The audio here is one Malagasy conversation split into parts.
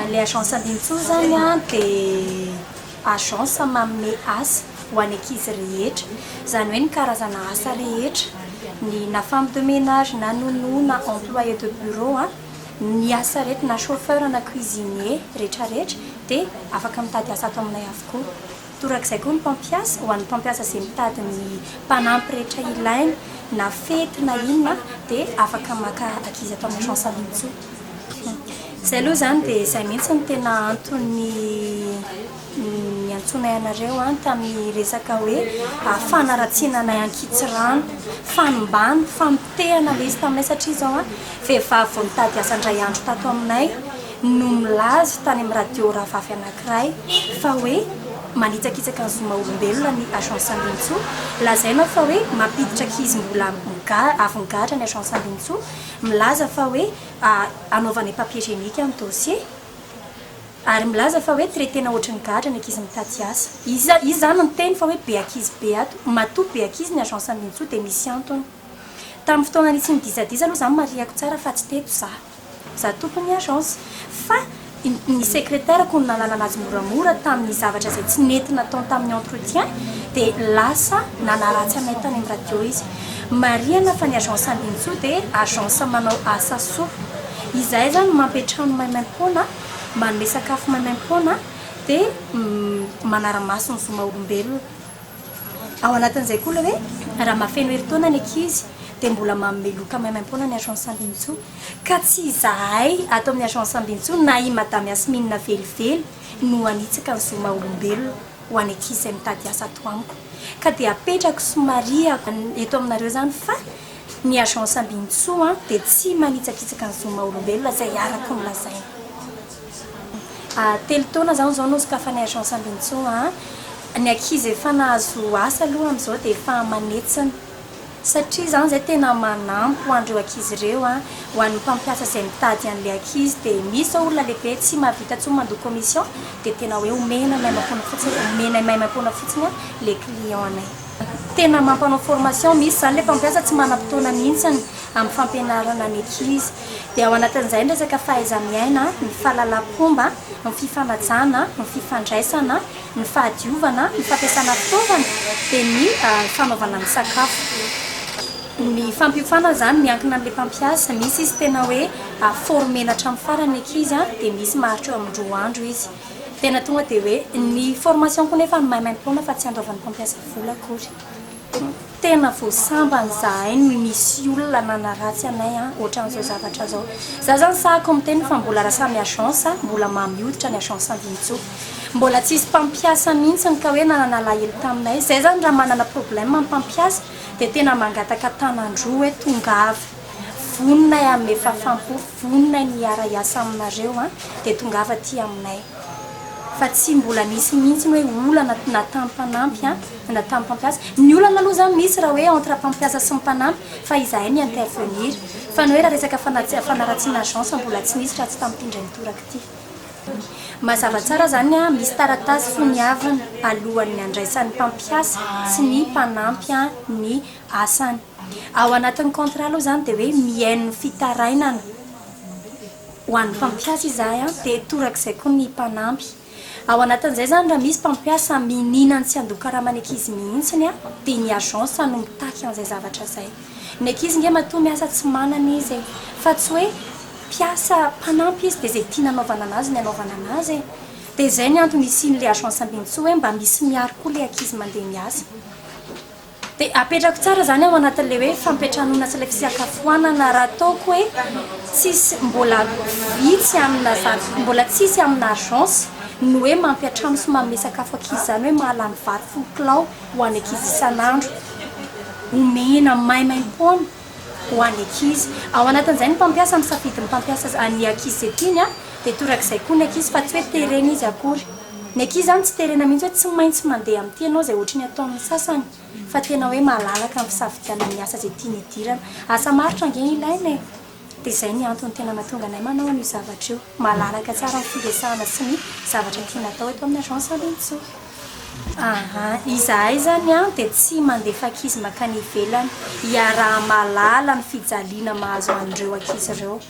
Ilay agence Ambinintsoa izany dia agence manome asa ho an'ny ankizy rehetra. Izany hoe ny karazana asa rehetra, ny na femme de ménage, na nounou, na employé de bureau, ny asa rehetra, na chauffeur, na cuisinier, rehetrarehetra dia afaka mitady asa ato aminay avokoa. Torak'izay koa ny mpampiasa, ho an'ny mpampiasa izay mitady ny mpanampy rehetra ilainy na fety na inona dia afaka maka ankizy ato amin'ny Agence Amitso. Izay aloha izany dia izay mihitsy no tena antony niantsoanay anareo tamin'ny resaka hoe fanaratsiana anay ankitsirano. Fanimbàna, famotehana ilay izy taminay satria izao vehivavy vao nitady asa indray andro tato aminay, no milaza tany amin'ny radio rafafy anankiray fa hoe manitsakitsaka ny zo maha-olombelona ny Agence Andinintsoa. Lazaina fa hoe mampiditra ankizy mbola avy nigadra ny Agence Andinintsoa. Milaza fa hoe hanaovana ny papier génique ny dossier. Ary milaza fa hoe traiter-na ohatry ny gadra ny ankizy mitady asa. Iza iza izany miteny fa hoe be ankizy be ato? Matoa be ankizy ny Agence Andinintsoa dia misy antony. Tamin'ny fotoana nisian'ny dizadiza aloha izaho marihako tsara fa tsy teto izaho. Za tompony ny agence fa ny secretaire ko no nanalana azy moramora taminy zavatra izay tsy nety nataony taminy entretien dia lasa nanaratsy anay tany amin'ny radio izy. Marihana fa ny agence Andinitsoa dia agence manao asa soa. Izahay zany mampiantrano maimaimpoana, manome sakafo maimaimpoana dia manaramaso ny zo maha olombelona. Ao anatin'izay koa ilay hoe raha mahafeno herintaona ny ankizy dia mbola manome loka maimaim-poana ny Agence Ambinintsoa. Ka tsy izahay ato amin'ny Agence Ambinintsoa na i Madame Yasmine velively no hanitsaka ny zo maha-olombelona ho an'ny ankizy izay mitady asa ato amiko. Ka dia apetrako sy mariako eto aminareo izany fa ny Agence Ambinintsoa dia tsy manitsakitsaka ny zo maha-olombelona izay arako ny lazaina. Telo taona zah zao no sokafan'ny agence ambinintsoa an! Ny ankizy efa nahazo asa aloha amin'izao dia efa manetsana satria zany izay tena manampy ho an'ireo ankizy ireo an! Ho an'ny mpampiasa izay mitady an'ilay ankizy dia misy izao olona lehibe tsy mahavita intsony mandoa commission dia tena hoe omena maimaimpoana fotsiny, omenay maimaimpoana fotsiny an! ilay client-nay. Tena mampanao formation misy izany ilay mpampiasa tsy manam-potoana mihitsy amin'ny fampianarana maîtrise. Dia ao anatin'izay ny resaka fahaiza-miaina, ny fahalalam-pomba, ny fifanajana, ny fifandraisana, ny fahadiovana, ny fampiasana fitaovana, dia ny fanaovana ny sakafo. Ny fampiofana izany miankina amin'ilay mpampiasa, misy izy tena hoe former-na hatramin'ny farany ny ankizy dia misy maharitra eo amin'ny roa andro izy. Tena tonga dia hoe ny formation-ko nefa maimaim-poana fa tsy andoavan'ny mpampiasa vola akory. Tena vao sambany izahay ny misy olona nanaratsy anay an, ohatran'izao zavatra izao. Izaho izany sahako miteny fa mbola raha samy agence mbola mamy hoditra ny agence Andinintsoa. Mbola tsy hisy mpampiasa mihitsy ka hoe nanana alahelo taminay. Izay izany raha manana problème ny mpampiasa dia tena mangataka tanan-droa hoe tongava. Vonona hanome fahafaham-po, vonona ny hiara-hiasa aminareo dia tongava aty aminay. Fa tsy mbola nisy mihitsy ny hoe olana na tamin'ny mpanampy na tamin'ny mpampiasa. Ny olana aloha izany misy raha hoe entre mpampiasa sy ny mpanampy fa izahay mi intervenir. Fa ny hoe raha resaka fanaratsiana agence mbola tsy nisy raha tsy tamin'ity indray mitoraka ity. Mazava tsara izany, misy taratasy soniaviny alohan'ny handraisan'ny mpampiasa sy ny mpanampy ny asany. Ao anatin'ny contrat aloha izany dia hoe mihaino fitarainana ho an'ny mpampiasa izahay dia torak'izay koa ny mpanampy. Ao anatin'izay izany raha misy mpampiasa mihinana ny tsy handoa karama ny ankizy mihitsy dia ny agence no mitaky an'izay zavatra izay. Ny ankizy ange matoa miasa tsy manana izy e! Fa tsy hoe mpiasa mpanampy izy dia izay tiana anaovana an'azy no anaovana an'azy e! Dia izay ny antony isian'ilay agence ambinintsoa hoe mba misy miaro koa ilay ankizy mandeha miasa. Dia apetrako tsara izany ao anatin'ilay hoe fampiantranoana sy ilay fisakafoanana raha ataoko hoe tsisy mbola vitsy amina zany, mbola tsisy amina agence ny hoe mampiantrano sy manome sakafo ankizy izany hoe mahalany vary folo kilao ho an'ny ankizy isan'andro omena maimaim-poana. ho an'ny ankizy. Ao anatin'izay ny mpampiasa misafidy ny mpampiasa an'ny ankizy izay tiany dia torak'izay koa ny ankizy fa tsy hoe terena izy akory. Ny ankizy izany tsy terena mihitsy hoe tsy maintsy mandeha amin'ity ianao izay ohatry ny ataon'ny sasany fa tena hoe malalaka amin'ny fisafidianany ny asa izay tiany hidirana. Asa marotra ange no ilaina e! Dia izay ny antony tena mahatonga anay manao an'io zavatra io. Malalaka tsara ny firesahana sy ny zavatra tiana atao eto amin'ny Agence Andrinintsoa. Aha, izahay zany an dia tsy mandefa ankizy mankany ivelany, iaraha-mahalala ny fijaliana mahazo an'ireo ankizy ireo.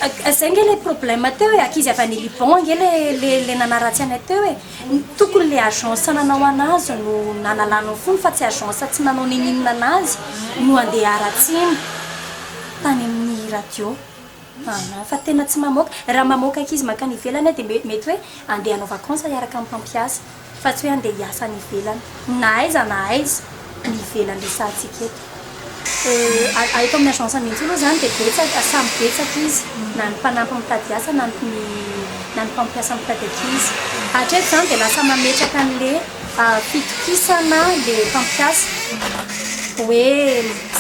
Ka zay nge le problème teo e, ankizy avy any Liban nge le le le nanaratsy anay teo e, tokony le agence nanao anazy no nanalana ny fony fa tsy agence tsy nanao n'ininona anazy no andeha haratsiana tany amin'ny radio. Anà fa tena tsy mamoaka. Raha mamoaka ankizy mankany ivelany aho dia mbe mety hoe andeha hanao vacance hiaraka amin'ny mpampiasa fa tsy hoe andeha hiasa any ivelany. Na aiza na aiza ny ivelany resahantsika eto. Euh, a eto amin'ny agence mihitsy aloha izany dia betsaka, samy betsaka izy. Na ny mpanampy mitady asa na ny na ny mpampiasa mitady ankizy. Hatreto izany dia lasa mametraka an'le fitokisana le mpampiasa hoe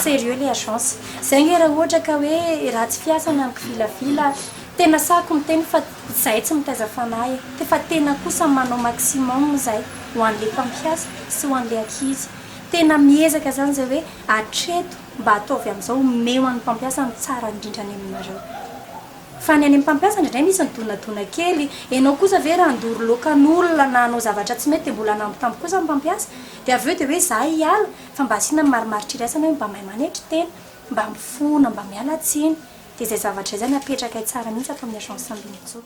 sérieux le agence. Zay nge raha ohatra ka hoe ratsy fiasa na mikvilafila ary. Tena sahiko miteny fa zay tsy mitaiza fanahy e. Te fa tena kosa manao maximum zay ho anle mpampiasa sy ho anle ankizy. Tena miezaka zany zay hoe atreto mba ataovy amzao omeo an'ny mpampiasa ny tsara indrindra any aminareo. Fa ny any amin'ny mpampiasa indraindray misy ny donadona kely. Enao kosa ve raha handoro loka an'olona na hanao zavatra tsy mety dia mbola hanambitamby kosa ny mpampiasa? Dia avy eo dia hoe za hiala? Fa mba asiana ny marimaritra iraisana hoe mba mahay manetry tena, mba mifona, mba miala tsiny. Dia izay zavatra izay zany apetrakay tsara mihitsy ato amin'ny agence ambin'ny folo.